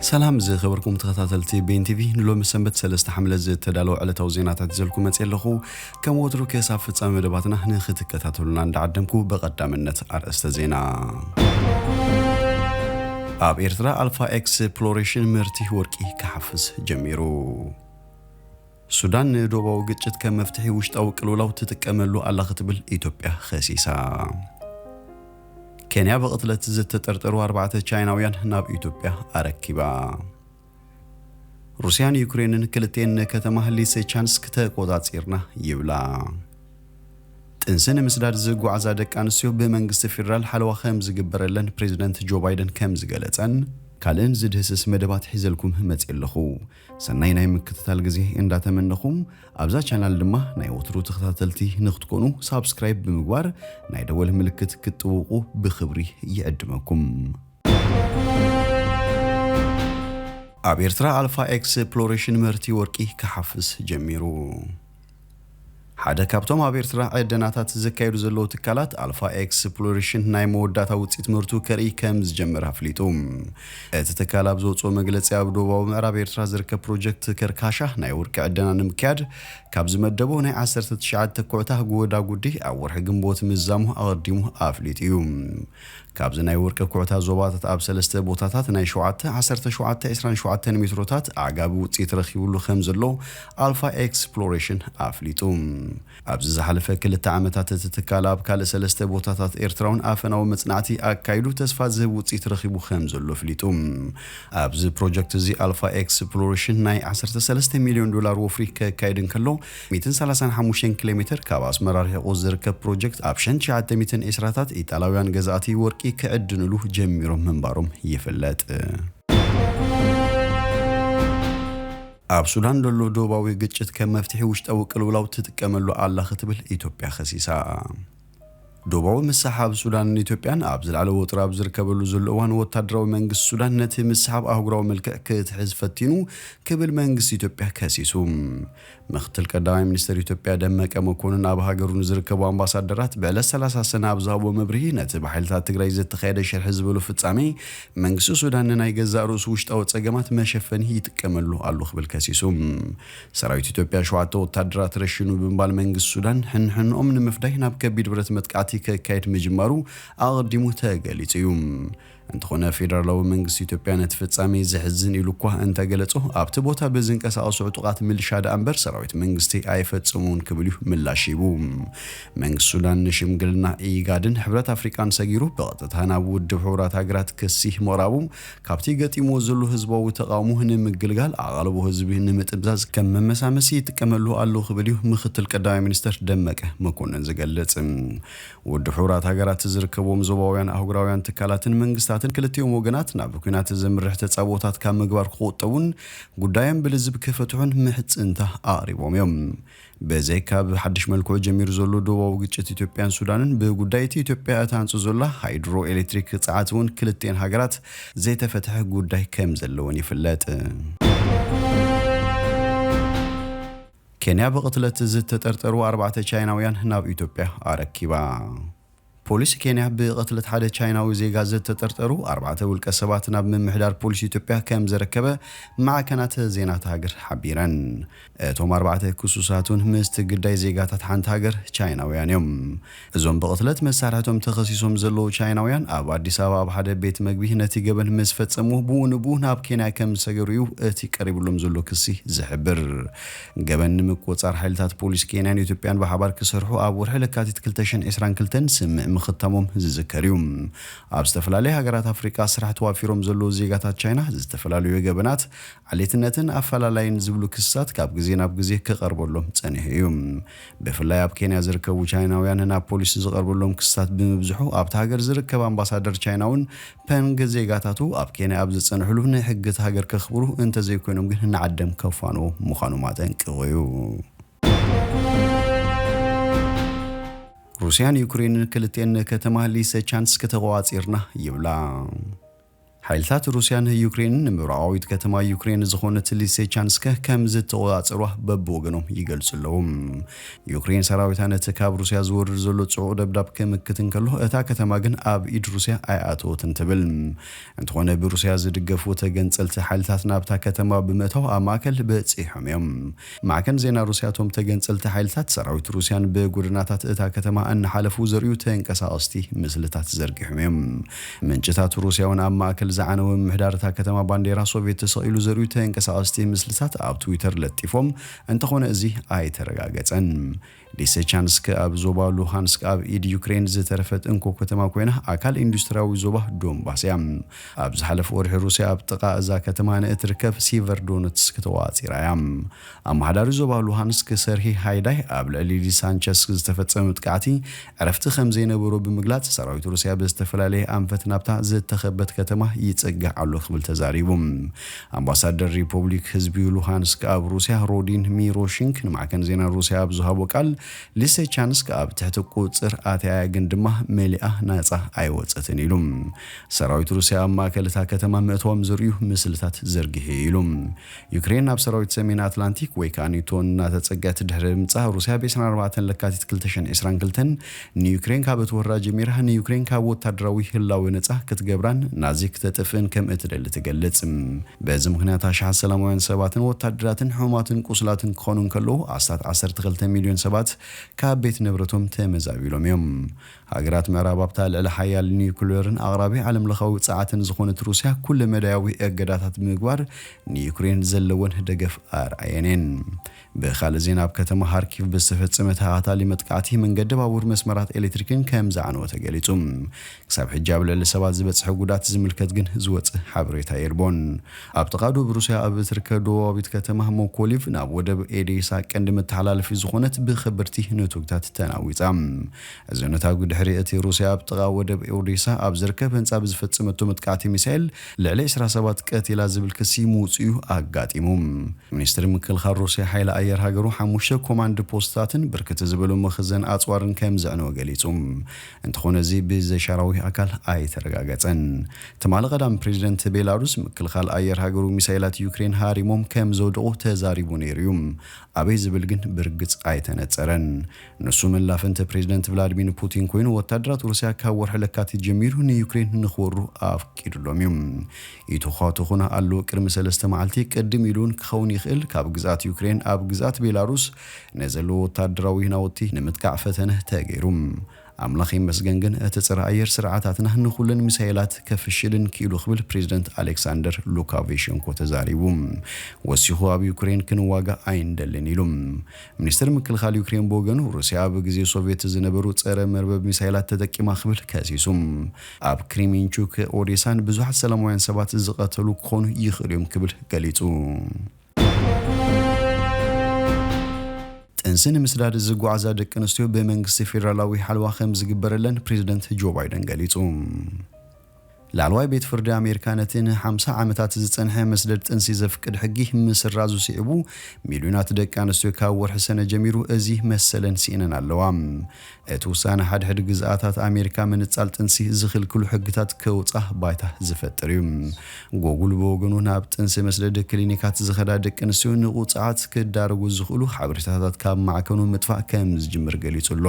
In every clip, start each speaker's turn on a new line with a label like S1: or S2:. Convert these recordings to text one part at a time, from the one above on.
S1: ሰላም ዝኸበርኩም ተኸታተልቲ ቤን ቲቪ ንሎሚ ሰንበት ሰለስተ ሓምለ ዝተዳለወ ዕለታዊ ዜናታት ዘልኩ መፅ ኣለኹ ከም ወትሩ ክሳብ ፍፃሚ መደባትና ንክትከታተሉና እንዳዓደምኩ በቐዳምነት ኣርእስተ ዜና ኣብ ኤርትራ ኣልፋ ኤክስፕሎሬሽን ምህርቲ ወርቂ ክሓፍስ ጀሚሩ ሱዳን ንዶባዊ ግጭት ከም መፍትሒ ውሽጣዊ ቅልውላው ትጥቀመሉ ኣላ ክትብል ኢትዮጵያ ኸሲሳ። ኬንያ ብቕትለት ዝተጠርጠሩ ኣርባዕተ ቻይናውያን ናብ ኢትዮጵያ ኣረኪባ። ሩስያን ዩክሬንን ክልቴን ንከተማ ሊሴቻንስክ ተቆጻጺርና ይብላ። ጥንሲ ንምስዳድ ዝጓዓዛ ደቂ ኣንስትዮ ብመንግስቲ ፌዴራል ሓለዋ ከም ዝግበረለን ፕሬዚደንት ጆ ባይደን ከም ዝገለጸን ካልእን ዝድህስስ መደባት ሒዘልኩም መጺኤ ኣለኹ። ሰናይ ናይ ምክትታል ግዜ እንዳ ተመነኹም ኣብዛ ቻናል ድማ ናይ ወትሩ ተኸታተልቲ ንክትኮኑ ሳብስክራይብ ብምግባር ናይ ደወል ምልክት ክትጥውቁ ብክብሪ ይዕድመኩም። ኣብ ኤርትራ ኣልፋ ኤክስፕሎሬሽን ምህርቲ ወርቂ ክሓፍስ ጀሚሩ። ሓደ ካብቶም ኣብ ኤርትራ ዕደናታት ዘካየዱ ዘለዉ ትካላት ኣልፋ ኤክስፕሎሬሽን ናይ መወዳእታ ውጽኢት ምህርቱ ከርእይ ከም ዝጀመረ ኣፍሊጡ። እቲ ትካል ኣብ ዘውጽኦ መግለጺ ኣብ ደቡባዊ ምዕራብ ኤርትራ ዝርከብ ፕሮጀክት ከርካሻ ናይ ወርቂ ዕደና ንምክያድ ካብ ዝመደቦ ናይ ዓሰርተ ትሽዓተ ተኮዕታ ጎዳጉዲ ኣብ ወርሒ ግንቦት ምዛሙ ኣቐዲሙ ኣፍሊጡ እዩ። ካብዚ ናይ ውርቂ ኩዕታት ዞባታት ኣብ ሰለስተ ቦታታት ናይ ሸውዓተ፣ ዓሰርተ ሸውዓተ፣ ዕስራን ሸውዓተን ሜትሮታት ኣዕጋቢ ውጽኢት ረኺቡሉ ከምዘሎ ኣልፋ ኤክስፕሎሬሽን ኣፍሊጡ። ኣብዚ ዝሓለፈ ክልተ ዓመታት እቲ ትካል ኣብ ካልእ ሰለስተ ቦታታት ኤርትራውን ኣፈናዊ መጽናዕቲ ኣካይዱ ተስፋ ዝህብ ውጽኢት ረኺቡ ከምዘሎ ኣፍሊጡ። ኣብዚ ፕሮጀክትዚ ኣልፋ ኤክስፕሎሬሽን ናይ ዓሰርተ ሰለስተ ሚልዮን ዶላር ወፍሪ ከካይድ እንከሎ፣ ሚእትን ሰላሳን ሓሙሽተን ኪሎ ሜተር ካብ ኣስመራ ርሒቑ ዝርከብ ፕሮጀክት ኣብ ሸን ትሽዓተ ሚእትን ዒስራታት ኢጣላውያን ገዛእቲ ወርቂ ክዕድንሉ ጀሚሮም ምንባሮም ይፍለጥ። ኣብ ሱዳን ዘሎ ዶባዊ ግጭት ከም መፍትሒ ውሽጣዊ ቅልውላው ትጥቀመሉ ኣላ ክትብል ኢትዮጵያ ከሲሳ። ዶባዊ ምስሕሓብ ሱዳንን ኢትዮጵያን ኣብ ዝለዓለ ወጥሪ ኣብ ዝርከበሉ ዘሎ እዋን ወታደራዊ መንግስቲ ሱዳን ነቲ ምስሕሓብ ኣህጉራዊ መልክዕ ክትሕዝ ፈቲኑ ክብል መንግስቲ ኢትዮጵያ ከሲሱ። ምኽትል ቀዳማይ ሚኒስተር ኢትዮጵያ ደመቀ መኮንን ኣብ ሃገሩ ንዝርከቡ ኣምባሳደራት ብዕለት ሰላሳ ሰነ ኣብ ዝሃብዎ መብርሂ ነቲ ብሓይልታት ትግራይ ዘተኻየደ ሽርሒ ዝበሎ ፍጻሜ መንግስቲ ሱዳን ንናይ ገዛእ ርእሱ ውሽጣዊ ጸገማት መሸፈኒ ይጥቀመሉ ኣሎ ክብል ከሲሱ። ሰራዊት ኢትዮጵያ ሸውዓተ ወታደራት ረሺኑ ብምባል መንግስቲ ሱዳን ሕንሕንኦም ንምፍዳይ ናብ ከቢድ ብረት መጥቃዕቲ ከካይድ ምጅማሩ ኣቐዲሙ ተገሊጹ እዩ። እንተኾነ ፌደራላዊ መንግስቲ ኢትዮጵያ ነቲ ፍጻሜ ዘሕዝን ኢሉ እኳ እንተገለጾ ኣብቲ ቦታ ብዝንቀሳቐሱ ዕጡቓት ምልሻ ደኣ እምበር ሰራዊት መንግስቲ ኣይፈጸሙን ክብል እዩ ምላሽ ሂቡ። መንግስቲ ሱዳን ንሽምግልና ኢጋድን ሕብረት ኣፍሪቃን ሰጊሩ ብቐጥታ ናብ ውድብ ሕቡራት ሃገራት ክሲ ምቕራቡ ካብቲ ገጢምዎ ዘሎ ህዝባዊ ተቓውሞ ንምግልጋል ኣቓልቦ ህዝቢ ንምጥምዛዝ ከም መመሳመሲ ይጥቀመሉ ኣሎ ክብል እዩ ምክትል ቀዳማይ ሚኒስተር ደመቀ መኮነን ዝገልጽ። ውድብ ሕቡራት ሃገራት ዝርከብዎም ዞባውያን ኣህጉራውያን ትካላትን መንግስታትን ክልቲኦም ወገናት ናብ ኲናት ዘምርሕ ተጻብኦታት ካብ ምግባር ክቑጠቡን ጉዳዮም ብልዝብ ክፈትሑን ምሕጽንታ ኣቕሪቦም እዮም። በዘይ ካብ ሓድሽ መልክዑ ጀሚሩ ዘሎ ዶባዊ ግጭት ኢትዮጵያን ሱዳንን ብጉዳይ እቲ ኢትዮጵያ እትሃንጾ ዘላ ሃይድሮ ኤሌክትሪክ ጸዓት እውን ክልቲኤን ሃገራት ዘይተፈትሐ ጉዳይ ከም ዘለወን ይፍለጥ። ኬንያ ብቕትለት ዝተጠርጠሩ ኣርባዕተ ቻይናውያን ናብ ኢትዮጵያ ኣረኪባ። ፖሊስ ኬንያ ብቕትለት ሓደ ቻይናዊ ዜጋ ዝተጠርጠሩ ኣርባዕተ ውልቀ ሰባት ናብ ምምሕዳር ፖሊስ ኢትዮጵያ ከም ዘረከበ ማዕከናት ዜና እታ ሃገር ሓቢረን። እቶም ኣርባዕተ ክሱሳት እውን ምስቲ ግዳይ ዜጋታት ሓንቲ ሃገር ቻይናውያን እዮም። እዞም ብቕትለት መሳርሕቶም ተኸሲሶም ዘለዉ ቻይናውያን ኣብ ኣዲስ ኣበባ ኣብ ሓደ ቤት መግቢ ነቲ ገበን ምስ ፈጸሙ ብኡ ንብኡ ናብ ኬንያ ከም ዝሰገሩ እዩ እቲ ቀሪብሎም ዘሎ ክሲ ዝሕብር። ገበን ንምቁፅፃር ሓይልታት ፖሊስ ኬንያን ኢትዮጵያን ብሓባር ክሰርሑ ኣብ ወርሒ ለካቲት ክልተ ሽሕን ዕስራን ክልተን ስምምዕ ምኽታሞም ዝዝከር እዩ። ኣብ ዝተፈላለያ ሃገራት ኣፍሪቃ ስራሕ ተዋፊሮም ዘለዉ ዜጋታት ቻይና ዝተፈላለዩ ገበናት፣ ዓሌትነትን ኣፈላላይን ዝብሉ ክስታት ካብ ግዜ ናብ ግዜ ክቐርበሎም ፀኒሑ እዩ። ብፍላይ ኣብ ኬንያ ዝርከቡ ቻይናውያን ናብ ፖሊስ ዝቐርበሎም ክስታት ብምብዝሑ ኣብታ ሃገር ዝርከብ ኣምባሳደር ቻይና እውን ፐንግ ዜጋታቱ ኣብ ኬንያ ኣብ ዝጸንሕሉ ናይ ሕጊ'ታ ሃገር ከኽብሩ እንተዘይኮይኖም ግን ንዓደም ከፋንዉ ምዃኖም ኣጠንቂቑ'ዩ። ሩስያን ዩክሬንን ክልቲኤን ንከተማ ሊሰቻንስክ ተቖጻጺርና ይብላ። ሓይልታት ሩስያን ዩክሬንን ንምብራቓዊት ከተማ ዩክሬን ዝኾነት ሊሰቻንስክ ከምዝተቖጻጸሩዋ በብወገኖም ይገልጹ ኣለዉ። ዩክሬን ሰራዊታ ነቲ ካብ ሩስያ ዝወርድ ዘሎ ጽዑቕ ደብዳብ ክምክት እንከሎ፣ እታ ከተማ ግን ኣብ ኢድ ሩስያ ኣይኣተወትን ትብል። እንተኾነ ብሩስያ ዝድገፉ ተገንጸልቲ ሓይልታት ናብታ ከተማ ብምእታው ኣብ ማእከል በጺሖም እዮም። ማዕከን ዜና ሩስያ እቶም ተገንጸልቲ ሓይልታት ሰራዊት ሩስያን ብጎደናታት እታ ከተማ እናሓለፉ ዘርእዩ ተንቀሳቐስቲ ምስልታት ዘርጊሖም እዮም። ምንጭታት ሩስያ'ውን ኣብ ማእከል ዝዓነወ ምምሕዳር እታ ከተማ ባንዴራ ሶቭየት ተሰቒሉ ዘርእዩ ተንቀሳቐስቲ ምስልታት ኣብ ትዊተር ለጢፎም እንተኾነ እዚ ኣይተረጋገጸን። ሊሰቻንስክ ኣብ ዞባ ሉሃንስክ ኣብ ኢድ ዩክረይን ዝተረፈት እንኮ ከተማ ኮይና ኣካል ኢንዱስትርያዊ ዞባ ዶንባስ እያ። ኣብ ዝሓለፈ ወርሒ ሩስያ ኣብ ጥቓ እዛ ከተማ ንእትርከብ ሲቨርዶነትስክ ተቖጻጺራ እያ። ኣመሓዳሪ ዞባ ሉሃንስክ ሰርሂ ሃይዳይ ኣብ ልዕሊ ሊሳንቸስክ ዝተፈጸመ መጥቃዕቲ ዕረፍቲ ከም ዘይነበሮ ብምግላጽ ሰራዊት ሩስያ ብዝተፈላለየ ኣንፈት ናብታ ዝተኸበት ከተማ ይጽጋዕ ኣሎ ክብል ተዛሪቡ። ኣምባሳደር ሪፖብሊክ ህዝቢ ሉሃንስክ ኣብ ሩስያ ሮዲን ሚሮሺንክ ንማዕከን ዜና ሩስያ ኣብ ዝሃቦ ቃል፣ ሊሰቻንስክ ኣብ ትሕቲ ቁጽጽር ኣትያ'ያ ግን ድማ መሊኣ ናጻ ኣይወጸትን ኢሉ። ሰራዊት ሩስያ ኣብ ማእከል እታ ከተማ ምእታዎም ዘርእዩ ምስልታት ዘርጊሑ'ዩ ኢሉ። ዩክሬን ናብ ሰራዊት ሰሜን ኣትላንቲክ ወይ ከኣ ኔቶ እናተጸገዐት ድሕሪ ምምጻእ ሩስያ ብ ዕስራን ኣርባዕተን ለካቲት ክልተ ሽሕን ዕስራን ክልተን ንዩክሬን ካብ እትወራ ጀሚራ ንዩክሬን ካብ ወታደራዊ ህላወ ነጻ ክትገብራን ናዚ ክተጥፍእን ከም እትደሊ ትገልጽ። በዚ ምኽንያት ኣሽሓት ሰላማውያን ሰባትን ወታደራትን ሕሙማትን ቁስላትን ክኾኑ እንከለዉ ኣስታት ዓሰርተ ክልተ ሚልዮን ሰባት ካብ ቤት ንብረቶም ተመዛቢሎም እዮም። ሃገራት ምዕራብ ኣብታ ልዕለ ሓያል ኒዩክለርን ኣቕራቢ ዓለምለኻዊ ጸዓትን ዝኾነት ሩስያ ኩለ መዳያዊ እገዳታት ብምግባር ንዩክሬን ዘለወን ደገፍ ኣርኣየን እየን። ብኻልእ ዜና ኣብ ከተማ ሃርኪቭ ብዝተፈጸመ ተኸታታሊ መጥቃዕቲ መንገዲ ባቡር መስመራት ኤሌክትሪክን ከም ዝዓነወ ተገሊጹ። ክሳብ ሕጂ ኣብ ልዕሊ ሰባት ዝበጽሐ ጉዳት ዝምልከት ግን ዝወጸ ሓበሬታ የልቦን። ኣብ ጥቓ ዶብ ሩስያ ኣብ እትርከብ ደቡባዊት ከተማ ሞኮሊቭ ናብ ወደብ ኤዴሳ ቀንዲ መተሓላለፊት ዝኾነት ብከበድቲ ነቶግታት ተናዊጻ። እዚ ነታጒ ድሕሪ እቲ ሩስያ ኣብ ጥቓ ወደብ ኦዴሳ ኣብ ዝርከብ ህንጻ ብዝፈጸመቶ መጥቃዕቲ ሚሳይል ልዕሊ ዕስራ ሰባት ቀቲላ ዝብል ክሲ ምውጽኡ ኣጋጢሙ። ሚኒስትሪ ምክልኻል ሩስያ ሓይሊ ኣየር ሃገሩ ሓሙሽተ ኮማንድ ፖስትታትን ብርክት ዝበሉ መኽዘን ኣጽዋርን ከም ዘዕነወ ገሊጹ እንተኾነ እዚ ብዘሻራዊ ኣካል ኣይተረጋገጸን። ትማሊ ቀዳም ፕሬዚደንት ቤላሩስ ምክልኻል ኣየር ሃገሩ ሚሳይላት ዩክሬን ሃሪሞም ከም ዘውደቑ ተዛሪቡ ነይሩ እዩ። ኣበይ ዝብል ግን ብርግጽ ኣይተነጸረን። ንሱ መላፍንቲ ፕሬዚደንት ቭላድሚን ፑቲን ኮይኑ ወታደራት ሩስያ ካብ ወርሒ ለካቲት ጀሚሩ ንዩክሬን ንክወሩ ኣፍቂድሎም እዩ። ይትዃትኹን ኣለዉ ቅድሚ ሰለስተ መዓልቲ ቅድም ኢሉውን ክኸውን ይኽእል ካብ ግዝኣት ዩክሬን ኣብ ግዝኣት ቤላሩስ ንዘለዉ ወታደራዊ ናውቲ ንምጥቃዕ ፈተነ ተገይሩ። ኣምላኽ ይመስገን ግን እቲ ፀረ ኣየር ስርዓታትና ንኹለን ሚሳይላት ከፍሽልን ክኢሉ ክብል ፕሬዚደንት ኣሌክሳንደር ሉካቬሸንኮ ተዛሪቡ። ወሲኹ ኣብ ዩክሬን ክንዋጋእ ኣይንደልን ኢሉ። ሚኒስትሪ ምክልኻል ዩክሬን ብወገኑ፣ ሩስያ ኣብ ግዜ ሶቭየት ዝነበሩ ጸረ መርበብ ሚሳይላት ተጠቂማ ክብል ከሲሱ። ኣብ ክሪሚንቹክ፣ ኦዴሳን ብዙሓት ሰላማውያን ሰባት ዝቐተሉ ክኾኑ ይኽእሉ እዮም ክብል ገሊጹ። ጥንሲ ንምስዳድ ዝጓዓዛ ደቂ ኣንስትዮ ብመንግስቲ ፌደራላዊ ሓለዋ ከምዝግበረለን ፕሬዝደንት ጆ ባይደን ገሊጹ። ላዕለዋይ ቤት ፍርዲ ኣሜሪካ ነቲ ን ሓምሳ ዓመታት ዝጸንሐ መስደድ ጥንሲ ዘፍቅድ ሕጊ ምስራዙ ስዒቡ ሚልዮናት ደቂ ኣንስትዮ ካብ ወርሒ ሰነ ጀሚሩ እዚ መሰለን ስኢነን ኣለዋ። እቲ ውሳነ ሓድሕድ ግዝኣታት ኣሜሪካ ምንጻል ጥንሲ ዝኽልክሉ ሕግታት ከውጻ ባይታ ዝፈጥር እዩ። ጎጉል ብወገኑ ናብ ጥንሲ መስደዲ ክሊኒካት ዝኸዳ ደቂ ኣንስትዮ ንቁጽዓት ክዳረጉ ዝኽእሉ ሓበሬታታት ካብ ማዕከኑ ምጥፋእ ከምዝጅምር ገሊጹ ኣሎ።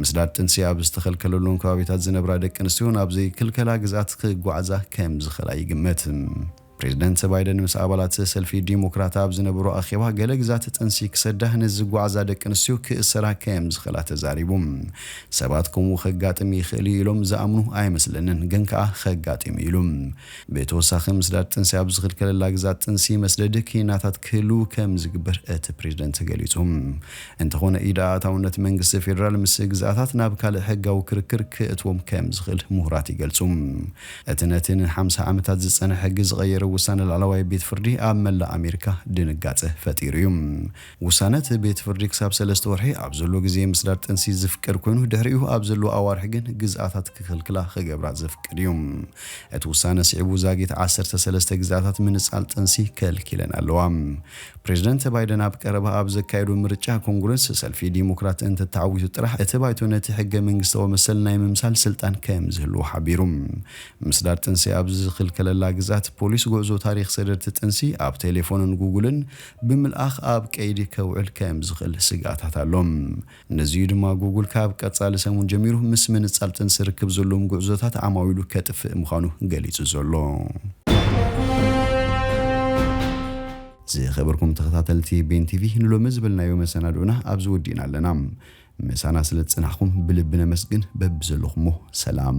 S1: ምስዳድ ጥንሲ ኣብ ዝተኸልከለሎም ከባቢታት ዝነብራ ደቂ ኣንስትዮ ናብ ዘይክልከላ ግዝኣት ክጓዓዛ ከም ዝኽእላ ይግመት። ፕሬዝደንት ባይደን ምስ ኣባላት ሰልፊ ዲሞክራት ኣብ ዝነበሮ ኣኼባ ገለ ግዝኣት ጥንሲ ክሰዳ ንዝጓዓዛ ደቂ ኣንስትዮ ክእሰራ ከም ዝኽእላ ተዛሪቡ። ሰባት ከምኡ ከጋጥም ይኽእል'ዩ ኢሎም ዝኣምኑ ኣይመስለንን፣ ግን ከኣ ከጋጢም'ዩ ኢሉ። ብተወሳኺ ምስዳድ ጥንሲ ኣብ ዝኽልከለላ ግዝኣት ጥንሲ መስደዲ ክኒናታት ክህሉ ከምዝግበር እቲ ፕሬዝደንት ገሊፁ። እንተኾነ ኢድ ኣእታውነት መንግስቲ ፌዴራል ምስ ግዝኣታት ናብ ካልእ ሕጋዊ ክርክር ክእትዎም ከምዝኽእል ሙሁራት ይገልፁ። እቲ ነቲ ንሓምሳ ዓመታት ዝፀንሐ ሕጊ ዝቐየረ ውሳነ ላዕለዋይ ቤት ፍርዲ ኣብ መላእ ኣሜሪካ ድንጋፀ ፈጢሩ እዩ። ውሳነ እቲ ቤት ፍርዲ ክሳብ ሰለስተ ወርሒ ኣብ ዘሎ ግዜ ምስዳድ ጥንሲ ዝፍቀድ ኮይኑ ድሕሪኡ ኣብ ዘለዉ ኣዋርሕ ግን ግዝኣታት ክኽልክላ ክገብራ ዘፍቅድ እዩ። እቲ ውሳነ ስዒቡ ዛጊት ዓሰርተ ሰለስተ ግዝኣታት ምንጻል ጥንሲ ከልኪለን ኣለዋ። ፕሬዝደንት ባይደን ኣብ ቀረባ ኣብ ዘካየዶ ምርጫ ኮንግረስ ሰልፊ ዲሞክራት እንተተዓዊቱ ጥራሕ እቲ ባይቶ ነቲ ሕገ መንግስታዊ መሰል ናይ ምምሳል ስልጣን ከምዝህልዎ ሓቢሩ። ምስዳድ ጥንሲ ኣብ ዝኽልከለላ ግዝኣት ፖሊስ ጉዕዞ ታሪኽ ሰደድቲ ጥንሲ ኣብ ቴሌፎንን ጉጉልን ብምልኣኽ ኣብ ቀይዲ ከውዕል ከም ዝኽእል ስግኣታት ኣሎ። ነዚ'ዩ ድማ ጉጉል ካብ ቀጻሊ ሰሙን ጀሚሩ ምስ ምንጻል ጥንሲ ርክብ ዘለዎም ጉዕዞታት ዓማዊሉ ከጥፍእ ምዃኑ ገሊጹ ዘሎ። ዝኸበርኩም ተኸታተልቲ ቤን ቲቪ ንሎሚ ዝበልናዮ መሰናድኦና ኣብዚ ወዲእና ኣለና። ምሳና ስለ ዝጸናሕኩም ብልቢ ነመስግን፣ በብዘለኹሞ ሰላም።